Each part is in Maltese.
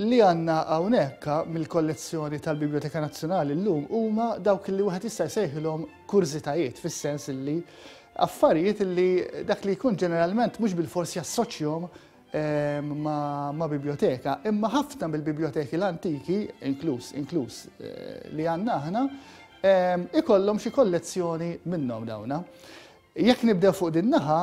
li għanna hawnhekk mill-kollezzjoni tal-Biblioteka Nazzjonali llum huma dawk li wieħed jista' jsejħilhom kurżitajiet fis-sens li affarijiet li dak li jkun ġeneralment mhux bil-fors jassoċjom ma' bibljoteka, imma ħafna mill-bibljoteki l-antiki, inkluż inkluż eh, li għandna aħna, ehm, ikollhom xi kollezzjoni minnhom dawna. Jekk nibdew fuq din naħa,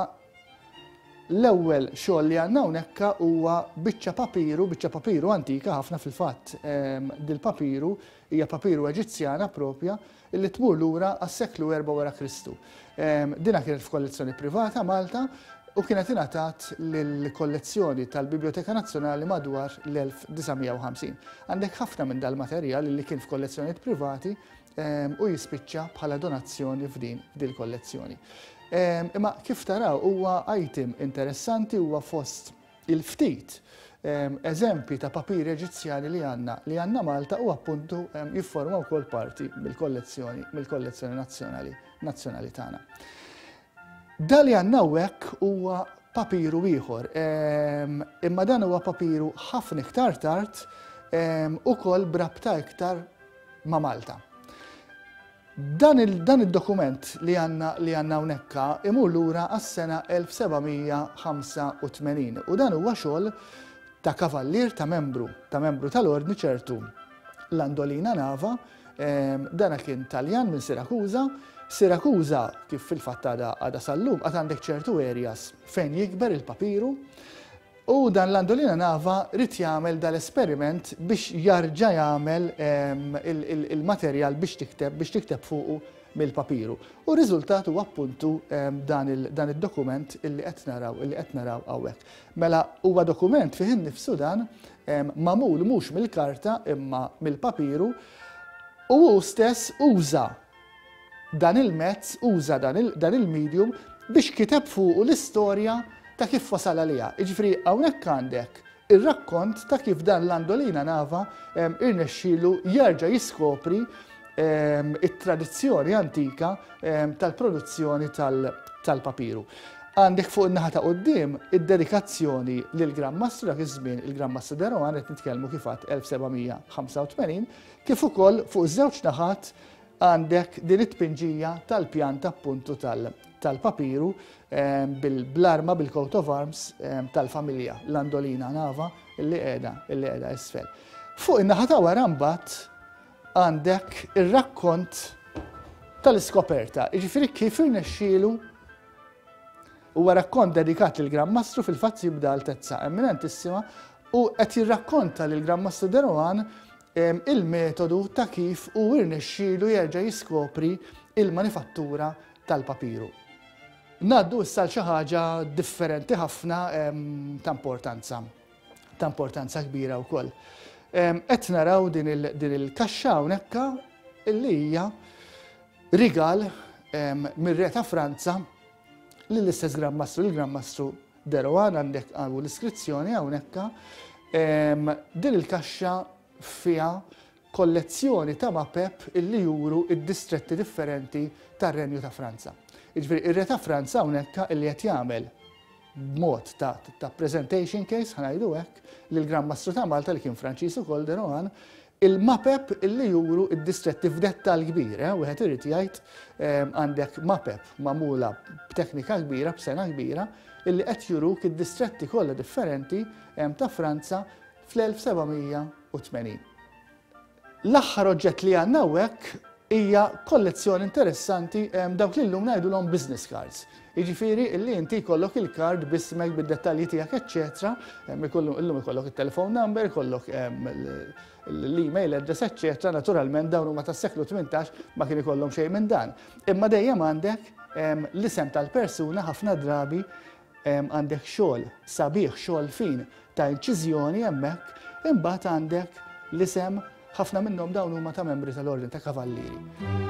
l-ewwel xogħol li għandna hawnhekk huwa biċċa papiru, biċċa papiru antika ħafna fil-fatt ehm, dil-papiru Hija papiru Eġizzjana proprja li tmur lura għas-seklu erba' wara Kristu. Dinha kienet f'kollezzjoni privata Malta u kienet ingħatat lill-kollezzjoni tal-Bibljoteka Nazzjonali madwar l-1950. Għandek ħafna minn dal-materjal li kien f'kollezzjonijiet privati u jispiċċa bħala donazzjoni f'din dil-kollezzjoni. Imma kif taraw huwa item interessanti huwa fost Il-ftit eżempji ta' papiri Eġizzjani li għandna li għandna Malta u appuntu jifforma wkoll parti mill-kollezzjoni mill-kollezzjoni nazzjonali nazzjonali tagħna. Dali għandna hekk huwa papiru ieħor. Imma dan huwa papiru ħafna iktar tard ukoll brabta iktar ma' Malta. Dan il dan id-dokument li għandna li għandna hawnhekka imur lura għas-sena 1785 u dan huwa xogħol ta' kavallier ta' membru ta' membru tal-Ordni ċertu Landolina Nava ehm dana kien Taljan minn Sirakuża. Sirakuża kif fil-fatt għadha għadha sal-lum għad għandek ċertu areas fejn jikber il-papiru U dan Landolina Nava ried jagħmel dal-esperiment biex jarġa' jagħmel il-materjal biex tikteb biex tikteb fuqu mill-papiru. U r-riżultat huwa appuntu dan id-dokument illi qed naraw illi qed naraw hawnhekk. Mela huwa dokument fih innifsu dan magħmul mhux mill-karta imma mill-papiru u hu stess uża dan il-mezz, uża dan il-medium biex kiteb fuqu l-istorja ta' kif wasal għaliha. Jiġifieri hawnhekk għandek ir-rakkont ta' kif dan Landolina Nava irnexxielu jerġa' jiskopri t-tradizzjoni antika tal-produzzjoni tal-papiru. Għandek fuq in-naħa ta' quddiem id-dedikazzjoni lill-Gran Mastru dak iż-żmien, il-Gran Mastru de Rohan, qed nitkellmu kif għedt 1785, kif ukoll fuq iż-żewġ naħat għandek din it-tpinġija tal-pjan ta' puntu tal-papiru ehm, bil-arma, bil-coat of arms ehm, tal-familja, l-andolina nava, illi qiegħda, illi qiegħda isfel. Fuq in-naħa ta' wara mbagħad għandek ir-rakkont tal-iskoperta, jiġifieri kif irnexxielu huwa rakkont dedikat lil Gran Mastru fil-fatt jibda altezza eminentissima u qed jirrakkonta lil Gran Mastru Derohan il-metodu ta' kif hu rnexxielu jerġa' jiskopri l-manifattura tal-papiru. Ngħaddu issa għal xi ħaġa differenti ħafna ta' importanza, ta' importanza kbira wkoll. Qed naraw din il-kaxxa hawnhekk li hija rigal mir-Re ta' Franza lill-istess Gran Mastru, lill-Gran Mastru Derogar għandek u l-iskrizzjoni hawnhekk din il-kaxxa fiha kollezzjoni ta' mapep illi juru d-distretti differenti tar-Renju ta' Franza. Jiġifieri r-Re ta' Franza hawnhekk illi qed jagħmel b'mod ta' ta' presentation case ħa ngħidu hekk lill-Grand Mastru ta' Malta li kien Franċiż ukoll Derogan Il-mapep li juru d-distretti f'dettall kbir, eh, wieħed irid jgħid, ehm, għandek mapep magħmula b'teknika kbira, b'sengħa kbira, illi qed juruk id-distretti kollha differenti ehm, ta' Franza fl-1780. L-aħħar oġġett li għandna hawnhekk Hija kollezzjoni interessanti dawk li llum ngħidulhom business cards. Jiġifieri illi inti jkollok il-kard b'ismek, bid-dettalji tiegħek eċċetera, illum ikollok it-telephone number, ikollok l-email address eċċetera, naturalment dawn huma tas-seklu tmintax ma kien ikollhom xejn minn dan. Imma dejjem għandek l-isem tal-persuna ħafna drabi Għandek xogħol sabiħ, xogħol fin ta' inċiżjoni hemmhekk, imbagħad għandek l-isem, ħafna minnhom dawn huma ta' membri tal-Ordni ta' Kavallieri.